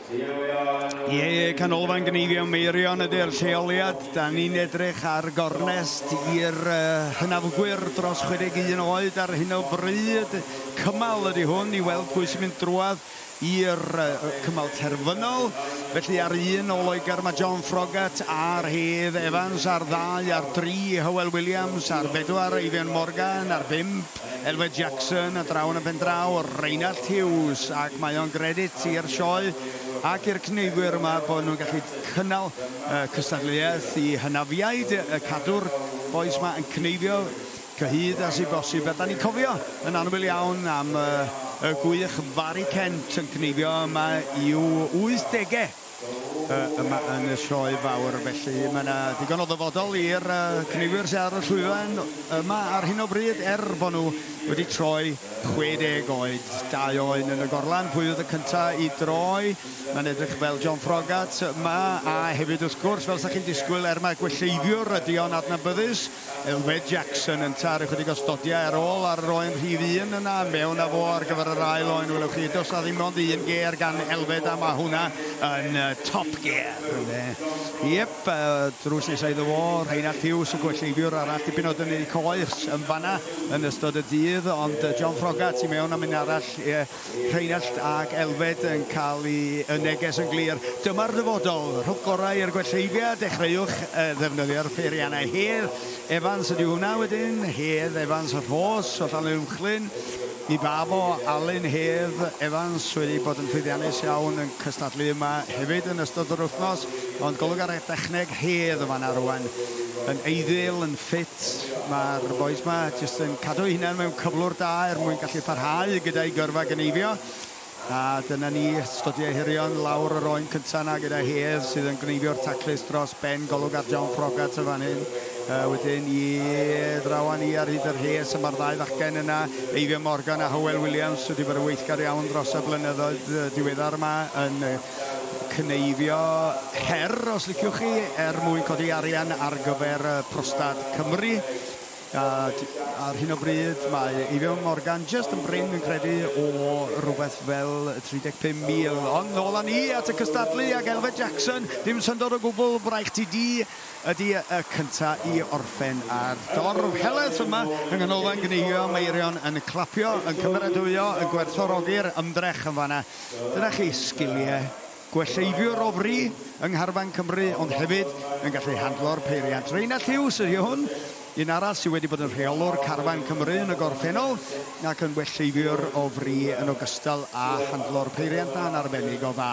Ie, canolfan gneifio Meirion ydy'r lleoliad. Da ni'n edrych ar gornest i'r hynafgwyr dros 61 oed ar hyn o bryd. Cymal ydy hwn i weld pwy sy'n mynd drwad i'r cymal terfynol. Felly ar un o Loegr mae John Frogat a'r Hedd Evans, ar ddau, ar dri Hywel Williams, ar bedwar Eifion Morgan, ar bump Elfed Jackson a draw yn y pendraw, Rheinald Hughes, ac mae o'n gredit i'r sioe ac i'r cneifwyr yma bod nhw'n gallu cynnal y cystadleuaeth i hynafiaid y cadw'r bois yma yn cneifio cyhyd a sy bosib. A da ni'n cofio yn annwyl iawn am y gwych Fari Kent yn cneifio yma i'w 80au. yma yn y Sioe Fawr, felly mae yna ddigon o ddyfodol i'r cynigwyr sydd ar y llwyfan yma ar hyn o bryd, er bod nhw wedi troi 60 oed, dau oen yn y gorlan, pwy oedd y cyntaf i droi, mae'n edrych fel John Frogat yma, a hefyd wrth gwrs, fel sy'ch chi'n disgwyl, er mae gwelleiddiwr ydi o'n adnabyddus, Elfed Jackson yn taru chydig o stodiau ar ôl ar yr oen rhif un yna mewn a fo ar gyfer yr ail oen welwch chi does na ddim ond un gêr gan Elfed a mae hwnna yn top gear ynde yep drws nesa iddo fo Rheinald Hughes y gwelleifiwr arall dipyn o dynnu coes yn fanna yn ystod y dydd ond John Frogat i mewn am un arall Rheinallt ac Elfed yn cael y neges yn glir, dyma'r dyfodol, rhowch gorau i'r gwelleifiad, dechreuwch ddefnyddio'r peiriannau Hedd, Evans ydyw hwnna wedyn, Hedd, Evans, Rhos, o Llanuwchllyn, i ba fo, Alun, Hedd, Evans wedi bod yn llwyddiannus iawn yn cystadlu yma hefyd yn ystod yr wythnos, ond golwg ar y dechneg, Hedd yn fan'na rwan, yn eiddil, yn ffit, Mae'r bois 'ma jyst yn cadw eu hunain mewn cyflwr da er mwyn gallu parhau gyda'u gyrfa gneifio. A dyna ni, Sgodiau Ehirion lawr yr oen cynta 'na gyda Hedd sydd yn gneifio'r taclus dros ben Golwg ar John Froggatt yn fan hyn. Uh, wedyn i ddrawan i ar hyd y rhes, y mae'r ddau fachgen yna, Eifion Morgan a Hywel Williams, wedi bod yn weithgar iawn dros y blynyddoedd diweddar yma yn cneifio her, os liciwch chi, er mwyn codi arian ar gyfer Prostad Cymru. A, ar hyn o bryd, mae Eifion Morgan just yn brin yn credu o rhywbeth fel 35,000. Ond nôl â ni at y cystadlu ac Elfed Jackson, dim syndod o gwbl, braich ti di ydy y cynta i orffen ar dorf heleth yma yng Nghanolfan Gneifio Meirion yn clapio, yn cymeradwyo, yn gwerthfawrogi'r ymdrech yn fanna. Dyna chi, sgiliau gwelleifiwr o fri yng ngharfan Cymru ond hefyd yn gallu handlo'r peiriant. Rheinald Hughes ydy hwn, un arall sydd wedi bod yn rheolwr carfan Cymru yn y gorffennol ac yn welleifiwr o fri yn ogystal â handlo'r peiriant. Ma'n arbennig o dda.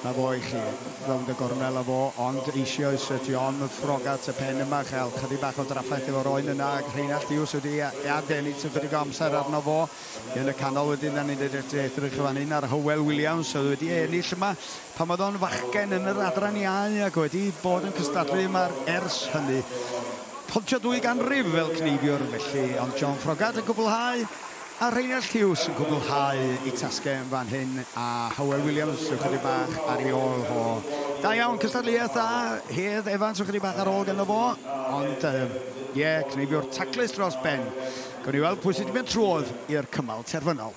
Na fo i chi. Rownd y gornel â fo, ond eisioes ydy o'n ffrog at y pen yma, chael chydig bach o draffaeth efo'r oen yna ac Rheinald Hughes wedi ei adennill ychydig o amser arno fo. Yn y canol wedyn 'dan ni'n edrych fan hyn ar Hywel Williams oedd wedi ennill yma pan oedd o'n fachgen yn yr Adran Iau ac wedi bod yn cystadlu yma ers hynny. Pontio dwy ganrif fel cneifiwr felly ond John Froggatt yn cwblhau a Rheinald Hughes yn cwblhau ei tasgau fan hyn a Hywel Williams ychydig bach ar ei ôl ho. Da iawn, cystadleuaeth dda, Hedd Evans ychydig bach ar ôl ganddo fo ond ie, cneifiwr taclus dros ben. Gawn ni weld pwy sydd wedi mynd trwodd i'r cymal terfynol.